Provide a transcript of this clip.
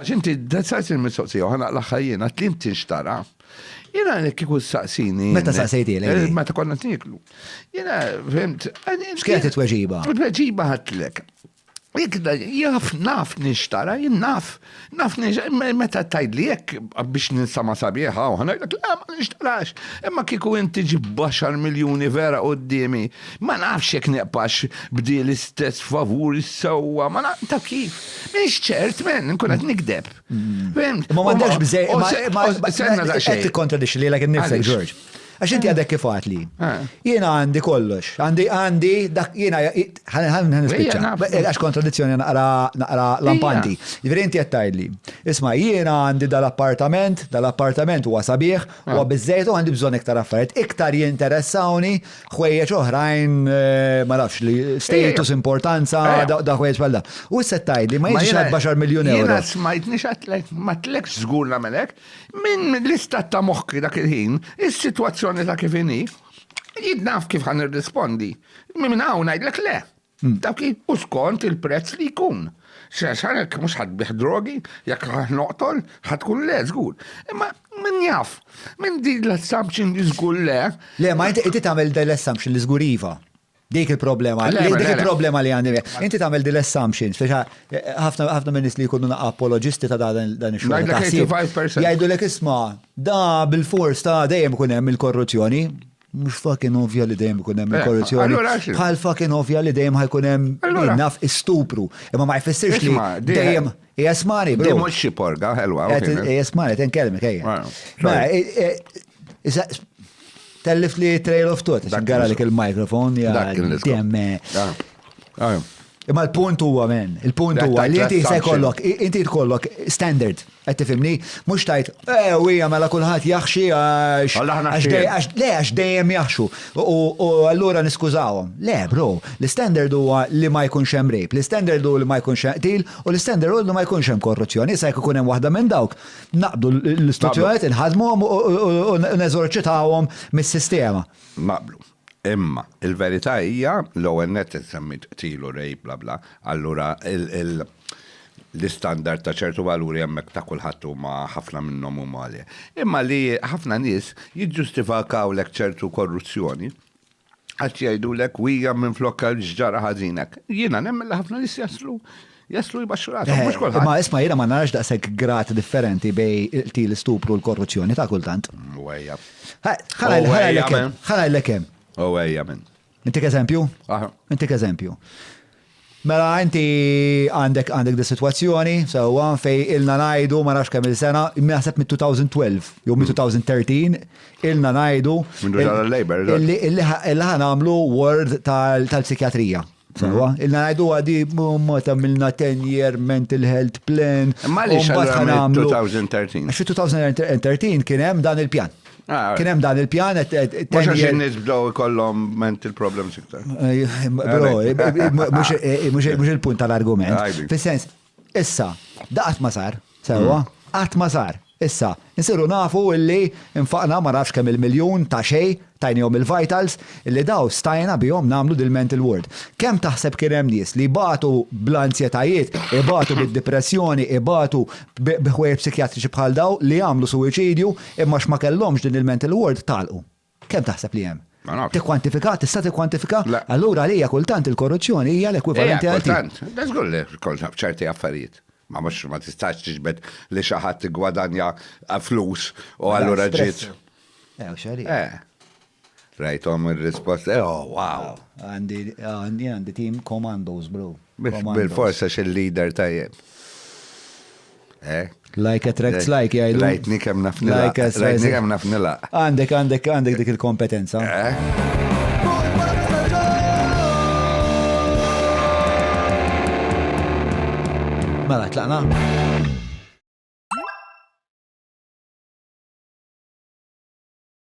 Għax inti saqsejtni l-mistoqsija u ħa naqlagħha jien, għedt li int tinxtara. Jiena li kieku ssaqsini. Meta saqsejtini? Eh, meta konna qed nieklu. Jiena fhimt. X'kienet it-tweġiba? Il-tweġiba ħadtlek. Ikda, jaf, naf nixtara, jien naf, naf nixtara, meta tajd li jek biex ninsama sabiħa, u ħana jgħak, la, ma nixtarax, imma kiku inti ġib baxar miljoni vera u d-dimi, ma nafx jek neqpax bdi l-istess favur s-sewa, ma naf, taf kif. Minix ċert, men, nkun għad nikdeb. Mm. Ma mandax bżej, ma s-senna da xej. Għed kontradix li l-għak nifsek, Ġorġ. Għax inti għadek kif li. Ah. Jena għandi kollox. Għandi, għandi, dak jena, għan nispicċa. Għax kontradizzjoni naqra, naqra lampanti. Ġveri inti għattaj li. Isma, jena għandi dal-appartament, dal-appartament huwa sabiħ, ah. huwa bizzejtu għandi bżon iktar affarijiet. Iktar jinteressawni ħwejjeġ oħrajn eh, ma nafx li status eh, importanza eh. da ħwejjeġ bħal da. U issa tajli ma jiġix għad baxar miljun euro. Jiena smajtni xatlek ma tlekx żgur nagħmelek minn l-istat ta' moħħi dak il-ħin, is-sitwazzjoni ta' kif inhi, jidnaf kif ħan irrispondi. Minn hawn ngħidlek le. Dak hi u skont il-prezz li jkun. X'għax għalhekk mhux ħa tbigħ drogi, jekk ħa noqtol, ħa tkun le żgur. Imma min jaf? Minn din l-assumption li żgur le. Le, ma inti inti tagħmel din l-assumption li żgur iva. Dik il-problema, Le, le, le, dik le. il-problema li għandi. Inti tagħmel din l-assumption, speċi eh, ħafna ħafna minn nies li jkunu naqa' apoloġisti ta' da- dan dan ix-xogħol. Ngħidlek ta' ħsieb, 85%. Jgħidulek isma' da bil-fors ta' dejjem ikun hemm il-korruzzjoni. Mhux fucking ovvja li dejjem ikun hemm eh, korruzzjoni. Bħal fucking ovvja li dejjem ħajkun hemm naf istupru. Imma ma jfissirx li dejjem jesmani. Dejjem mhux xi porga ħelwa. Jesmani, ten kelmi kejja. Tellif li trail of thought, gara li il-mikrofon, ja, demme. Imma l-punt huwa men, il-punt huwa li inti se jkollok, inti tkollok standard, qed tifhimni, mhux tajt, eh, u hija mela kulħadd jaħxi għax. Le, għax dejjem jaħxu. U allura niskużawhom. Le, bro, l-standard huwa li ma jkunx hemm rejb, l-standard hu li ma jkunx hemm qtil, u l-standard hu li ma jkunx hemm korruzzjoni. Issa jekk ikun hemm waħda minn dawk, naqbdu l-istituzzjonijiet, inħadmuhom u neżorċitawhom mis-sistema. Naqblu. Imma, il-verità hija, l-ewwel nett insemmit qtil u rape bla bla, allura l-istandard ta' ċertu valuri hemmhekk ta' kulħadd huma ħafna minnhom huma għolja. Imma li ħafna nies jiġġustifikawlek ċertu korruzzjoni għax jgħidulek wija minflok x'ġara ħażin hekk. Jiena nemmen li ħafna nies jaslu Jaslu jbaxxu rasu, mhux eh, kulħadd. Ma isma' jiena ma narax daqshekk grat differenti bej il-qtil stupru l-korruzzjoni ta' kultant. Wejja. Ħala l-ekem. Oh, wejja minn. Intik eżempju? Intik eżempju. Mela inti għandek għandek di situazzjoni, sewa fej ilna najdu ma nafx kemm il-sena, naħseb mit 2012 jew mit 2013 ilna najdu. Illi ħan għamlu word tal-psikjatrija. Tal Sawa, illa għajdu għadi mot għamilna 10 year mental health plan. Ma li xaħna 2013. Xi 2013 kien hemm dan il-pjan. Ah, kien hemm dan il-pjan Mhux għax in-nies bdew ikollhom mental problems iktar. Eh, eh, eh, mhux il-punt tal-argument. Fis-sens, Issa, da qatt ma sar, sewwa, qatt ma sar. Issa, insiru nafu illi nfaqna ma nafx kemm il-miljun ta' xejn, tajniehom il-vitals, illi daw stajna bihom nagħmlu dil-mental ward. Kemm taħseb kien hemm nies li jbatu bl-anzjetajiet, ibatu bid-dipressjoni, ibatu b'ħwejjeġ psikjatriċi bħal dawn li għamlu suwiċidju imma għax ma kellhomx din il-mental ward tagħlqu. Kemm taħseb li hemm? Ma nafx. Tikkwantifika? Tista' tikkwantifika? Le. Allura għalija kultant il-korruzzjoni hija l-ekwivalenti għal. Hija kultant. Le żgur li kont naf ċerti affarijiet. Ma mhux ma tistax tiġbed li xi ħadd iggwadanja flus u allura ġiet. Eh, u x'għalih. Eh. Rajthom ir-rispost. Eh, oh, wow. Għandi għandi għandi tim commandos, bro. Bil-forsa xi leader tajjeb. Eh? Like attracts eh, like, jgħidu. Rajtni kem naf nilaq. Rajtni kem naf nilaq. Għandek, għandek, għandek dik il-kompetenza. Eh? Mela, tlaqna.